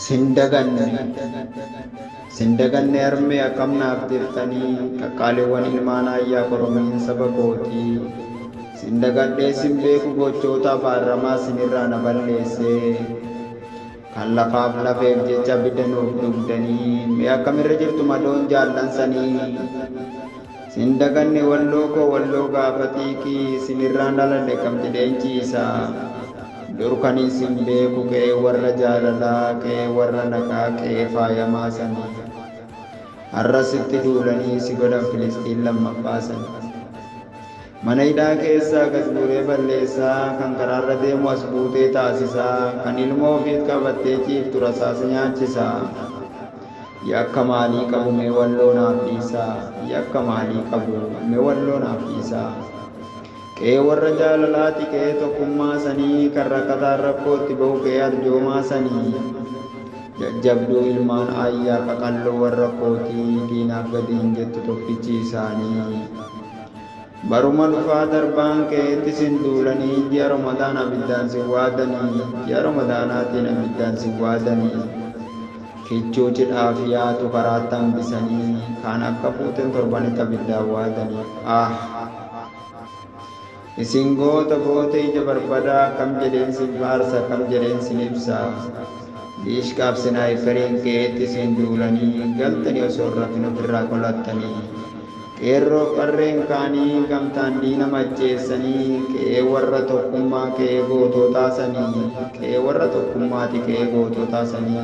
Sin daganne Sin daganne harmee akkam naaf jirtanii qaqqaaliwwan ilmaan ayyaa koromiin saba kootii sin dagadhee sin beeku gochoota baarramaa sinirraa na balleessee kan lafaaf lafeef jecha bidda nuuf dugdanii mee akkamirra jirtu madoon jaallan sanii Sin daganne walloo koo walloo gaafa xiiqi sinirraan dhalalle kam jedheen ciisa dur kanin sin beeku qe'ee warra jaalalaa qe'ee warra nagaa qe'ee faayamaa sani har'as sitti duulanii si godhan filisxiin lammaffaa sani. Mana hidhaa keessaa gad guuree balleessaa, kan karaarra deemu as buutee taasisaa, kan ilmoo ofiit qabattee ciiftu rasaasa nyaachisaa. Yakka maalii qabu mee walloo naaf dhiisaa, yakka maalii qabu mee walloo naaf dhiisaa. Qe'ee warra jaalalaati qe'ee tokkummaa sanii, kan rakkataan rakkoo itti bahu qe'ee arjoomaa sanii. Jajjabduu ilmaan aayyaa qaqalloo warra kootii, diinaaf gadi hin jettu tokkichi isaanii. Baruma dhufaa darbaan ke'etti sin duulanii ji'a Romadaan abiddaan sin waadanii ji'a Romadaanaatiin abiddaan sin waadanii kichuu cidhaa fiyaatu karaatti hambisanii kaan akka fuuteen torbanitti abiddaan waadanii aah isin goota goota ija barbadaa akkam jedheen sin faarsa akkam jedheen sin ibsa diishqaaf sinaayiperiin ke'etti sin duulanii galtanii osoo hin rafin ofirraa qolattanii Qeerroof qarreen kaanii gamtaan diina macheessanii qe'ee warra tokkummaa qe'ee gootootaa sanii qe'ee warra tokkummaati qe'ee gootootaa sanii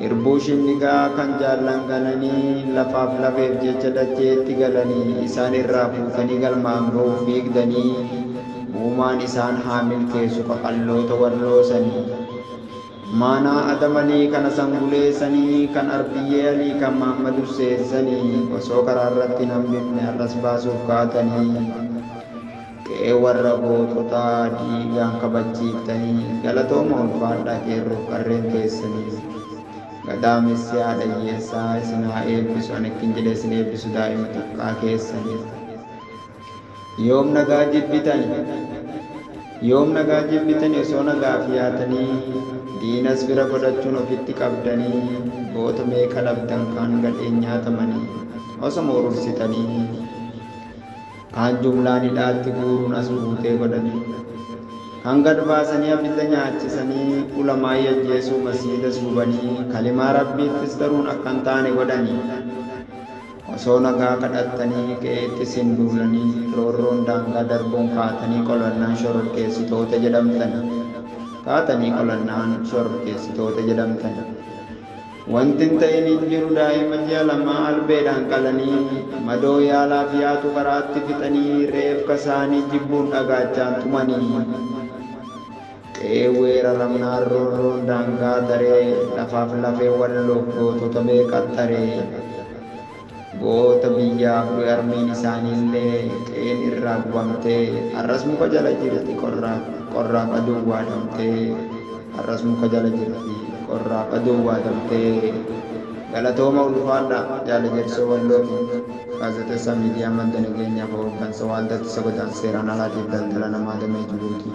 Irbuu shinnigaa kan jaallan gananii lafaaf lafeef jecha dacheetti galanii isaan irraa fuutanii galmaan ga'uuf fiigdanii uumaan isaan haa milkeessu qaqalloota walloo sanii. Maanaa Adam Alii kan Hasan Gulee sanii, kan Arbiyyee Alii kan Mahammad Husseen sanii osoo karaa irratti hin hambifne har'as baasuuf kaatanii qe'ee warra goototaa dhiigaan kabachiiftanii galatooma ulfaadhaa qeerroof qarreen keessanii. Gadaamessi haadha hiyyeessaa isin haa eebbisu ani akkin jedhee isin eebbisu daa'ima xiqqaa keessanii. Yoom nagaa jibbitani? Yoom nagaa jibbitani osoo nagaaf yaatanii diinas fira godhachuun ofitti qabdanii goota meeqa dhabdan kaan gadheen nyaatamanii osoma urursitanii kaan jumlaan hidhaatti guuruun as buutee godhanii kan gad baasanii abidda nyaachisanii ulamaa'ii ajjeesuu masiidas gubanii kalimaa rabbiittis garuun akkan taane godhanii Osoo nagaa kadhattanii qe'eetti sin duulanii roorroon daangaa darbuun kaatanii qolannaan shororkeessitoota jedhamtani. Kaatanii qolannaan shororkeessitoota jedhamtani. Wanti hin ta'in hin jiru daa'ima ji'a lamaa albeedhaan qalanii madoo yaalaaf yaatu karaatti fixanii reefka saanii jibbuun dhagaachaan tumanii. Qe'ee weeraramnaan roorroon daangaa taree lafaaf lafee Walloof gootota bee qaxxaree. Goota biyyaaf du'e harmeen isaaniillee qe'een irraa gubamtee har'as muka jala jirti qorraaf aduun waadamtee har'as muka jala jirti qorraaf aduun waadamtee. Galatooma ulfaadhaa Jaal Ejersoo Wallootiin. Gaazexeessaa Miidiyaa Madda Nageenyaa fi Hooggansa Waaldaa Ittisa Godaansa Seeraan Alaa tiif Daldala Namaa Damee Jibuutii.